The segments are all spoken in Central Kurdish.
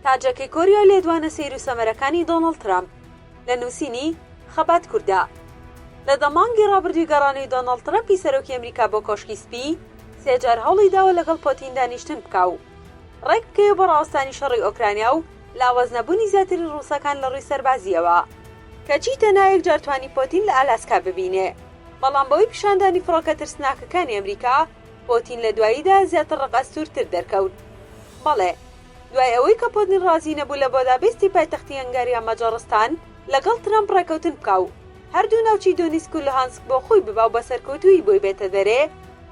تاجەکەی کۆریا لێدوانە سەیر و سەمەرەکانی دۆناڵد ترەمپ لە نووسینی، خەبات کوردە لە دە مانگی ڕابردووی گەڕانی دۆناڵد ترەمپی سەرۆکی ئەمریکا بۆ کۆشکی سپی سێ جار هەوڵی داوە لەگەڵ پۆتین دانیشتن بکا و ڕێک بکەوێ بۆ ڕاوەستانی شەڕی ئۆکرانیا و لاواز نەبوونی زیاتری ڕووسەکان لە ڕووی سەربازییەوە کەچی تەنها یەک جار توانی پۆتین لە ئالاسکا ببینێ. بەڵام بەهۆی پیشاندانی فڕۆکە ترسناکەکانی ئەمریکا، پۆتین لە دواییدا زیاتر ڕقئەستوورتر دەرکەوت. بەڵێ، دوای ئەوەی کە پۆتین ڕازی نەبوو لە بۆدابێستی پایتەختی هەنگاریا مەجەڕستان لەگەڵ ترەمپ ڕێکەوتن بکا و هەردوو ناوچەی دۆنیسک و لوهانسک بۆ خۆی ببا و بە سەرکەوتوویی بۆی بێتە دەرێ،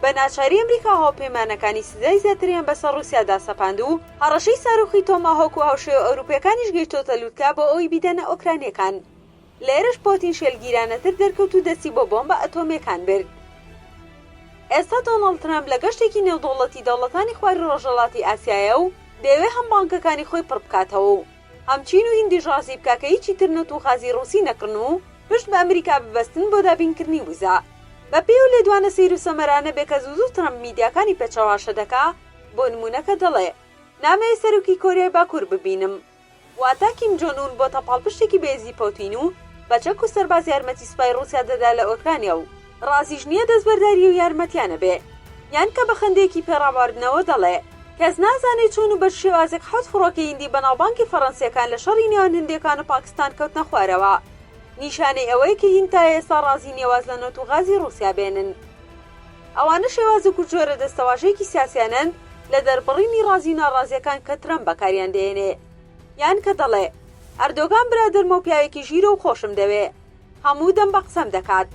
بە ناچاری ئەمریکا و هاوپەیمانەکانی سزای زیاتریان بەسەر ڕووسیادا سەپاند و هەڕەشەی ساروخی تۆماهۆک و هاوشێوە ئەوروپییەکانیش گەیشتۆتە لووتکە بۆ ئەوەی بیدەنە ئۆکرانییەکان. لێرەش پۆتین شێلگیرانەتر دەرکەوت و دەستی بۆ بۆمبە ئەتۆمیەکان برد. ئێستا دۆناڵد ترەمپ لە گەشتێکی نێودەوڵەتی دەوڵەتانی خواری ڕۆژهەڵاتی ئاسیایە و دەیەوێ هەم بانکەکانی خۆی پڕ بکاتەوە و هەم چین و هیندیش ڕازی بکا کە هیچی تر نەوت و غازی ڕووسی نەکڕن و پشت بە ئەمریکا ببەستن بۆ دابینکردنی وزە. بە پێی ئەو لێدوانە سەیر و سەمەرانەبێ کە زوو زوو ترەمپ میدیاکانی پێ چەواشە دەکا، بۆ نموونە کە دەڵێ، نامەوێ سەرۆکی کۆریای باکوور ببینم، واتە کیم جۆن ئون بۆتە پاڵپشتێکی بەهێزی پۆتین و بە چەک و سەرباز یارمەتی سوپای ڕوسیا دەدا لە ئۆکرانیا و ڕازیش نیە دەستبەرداری ئەو یارمەتیانە بێ یان کە بە خەندەیەکی پێ ڕاباردنەوە دەڵێ کەس نازانێ چۆن و بەچ شێوازێک حەوت فڕۆکەی هندی بەناوبانگی فەڕەنسیەکان لە شەڕی نێوان هندێکان و پاکستان کەوتنە خوارەوە نیشانەی ئەوەیە کە هیند تا ئێستا ڕازی نیە واز لە نەوت و غازی ڕوسیا بێنن. ئەوانە شێوازێک و جۆرە دەستەواژەیەکی سیاسیانەن لە دەربڕینی ڕازی و ناڕازیەکان کە ترەمپ بەکاریان دەێنێ یان کە دەڵێ ئەردۆگان برادەرمە و پیاوێکی ژیرە و خۆشم دەوێ هەموو دەم بە قسەم دەکات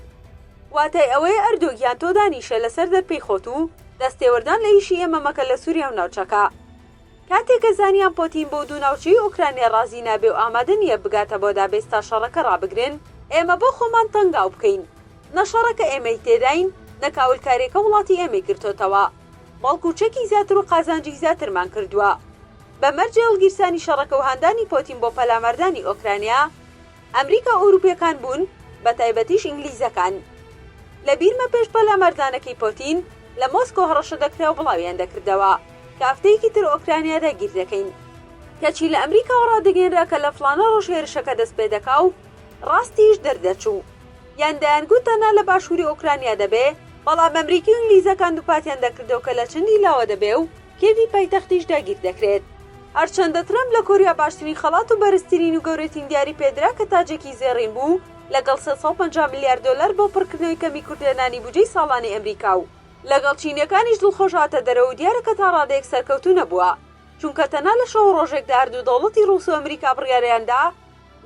واتای ئەوەیە ئەردۆ گیان تۆ دانیشە لە سەر دەرپێی خۆت و دەست تێوەردان لە ئیشی ئێمە مەکە لە سوریا و ناوچەکە. کاتێک کە زانیان پۆتین بۆ دوو ناوچەی ئۆکرانیا ڕازی نابێ و ئامادە نییە بگاتە بۆ دابێز تا شەڕەکە ڕابگرن، ئێمە بۆ خۆمان تەنگاو بکەین، نە شەڕەکە ئێمەی تێداین، نە کاولکارییەکە وڵاتی ئێمەی گرتۆتەوە، بەڵکوو چەکی زیاتر و قازانجی زیاترمان کردووە. بە مەرجێ هەڵگیرسانی شەڕەکە و هاندانی پۆتین بۆ پەلاماردانی ئۆکرانیا، ئەمریکا ئەوروپیەکان بوون بە تایبەتیش ئینگلیزەکان لە بیرمە پێش پەلاماردانەکەی پۆتین لە مۆسکۆ هەڕەشە دەکراو بڵاویان دەکردەوە کە هەفتەیەکی تر ئۆکرانیا داگیر دەکەین کەچی لە ئەمریکاوە ڕادەگەینرا کە لە فڵانە ڕۆژ هێرشەکە دەست پێ دەکا و ڕاستیش دەردەچوو یان دەیان گوت تەنها لە باشووری ئۆکرانیا دەبێ بەڵام ئەمریکی و ئینگلیزەکان دووپاتیان دەکردەوە کە لە چەندی لاوە دەبێ و کێڤی پایتەختیش داگیر دەکرێت. هەرچەندە ترەمپ لە کۆریا باشترین خەڵات و بەرزترین و گەورەتین دیاری پێدرا کە تاجێکی زێڕین بوو لەگەڵ سێ سەد و پەنجا ملیار دۆلار بۆ پڕکردنەوەی کەمی کورتهێنانی بودجەی ساڵانەی ئەمریکا و لەگەڵ چینیەکانیش دڵخۆش هاتە دەرەوە و دیارە کە تا ڕادەیەک سەرکەوتوو نەبووە چونکە تەنها لە شەو و ڕۆژێکدا هەردوو دەوڵەتی ڕووس و ئەمریکا بڕیاریان دا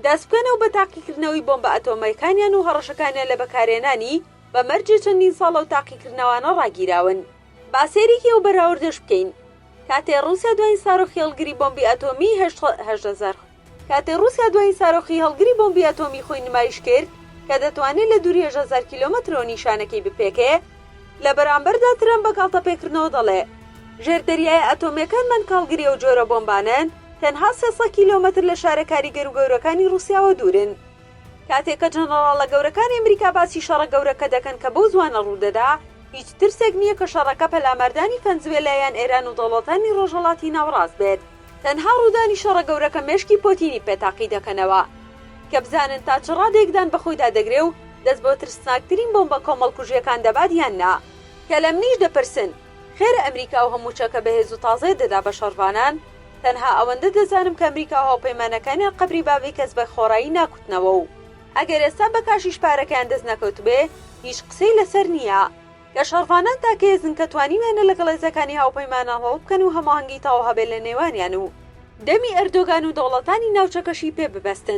دەست بکەنەوە بە تاقیکردنەوەی بۆمبە ئەتۆمەکانیان و هەڕەشەکانیان لە بەکارهێنانی بە مەرجێ چەندین ساڵە ئەو تاقیکردنەوانە ڕاگیراون. با سەیرێکی ئەو بەراوردەش بکەین کاتێ ڕوسیا دواین سارۆخی هەڵگری بۆمبی ئەتۆمی هەشت هەزار کاتێ ڕوسیا دواین سارۆخی هەڵگری بۆمبی ئەتۆمی خۆی نمایش کرد کە دەتوانێ لە دوری هەشت هەزار کیلۆمەترەوە نیشانەکەی بپێکێ لە بەرامبەردا ترەمپ بە گاڵتەپێکردنەوە دەڵێ ژێر دەریایە ئەتۆمیەکانمان کاڵگری ئەو جۆرە بۆمبانەن تەنها سێ سەد کیلۆمەتر لە شارە کاریگەرو گەورەکانی ڕوسیاوە دورن. کاتێک کە جەنەڕاڵە گەورەکانی ئەمریکا باسی شەڕە گەورەکە دەکەن کە بەو زوانە ڕوودەدا، هیچ ترسێک نییە کە شەڕەکە پەلاماردانی فەنزوێلا یان ئێران و دەوڵەتانی ڕۆژهەڵاتی ناوەڕاست بێت. تەنها ڕوودانی شەڕە گەورەکە مێشکی پۆتینی پێ تاقی دەکەنەوە کە بزانن تا چ ڕادەیەک دان بە خۆیدا دەگرێ و دەست بۆ ترسناکترین بۆمبە کۆمەڵکوژییەکان دەبات یان نا. کە لە منیش دەپرسن، خێرە ئەمریکا ئەو هەموو چەکە بەهێز و تازەیە دەدا بە شەڕڤانان؟ تەنها ئەوەندە دەزانم کە ئەمریکا و هاوپەیمانەکانیان قەبری باڤی کەس بە خۆڕایی ناکوتنەوە و ئەگەر ئێستا بە کاشیش پارەکەیان دەست نەکەوتبێ هیچ قسەی لەسەر نییە کە شەڕڤانان تاکە هێزن کە توانیویانە لەگەڵ هێزەکانی هاوپەیمانان ڕەوت بکەن و هەماهەنگی تەواو هەبێ لە نێوانیان و دەمی ئەردۆگان و دەوڵەتانی ناوچەکەشی پێ ببەستن.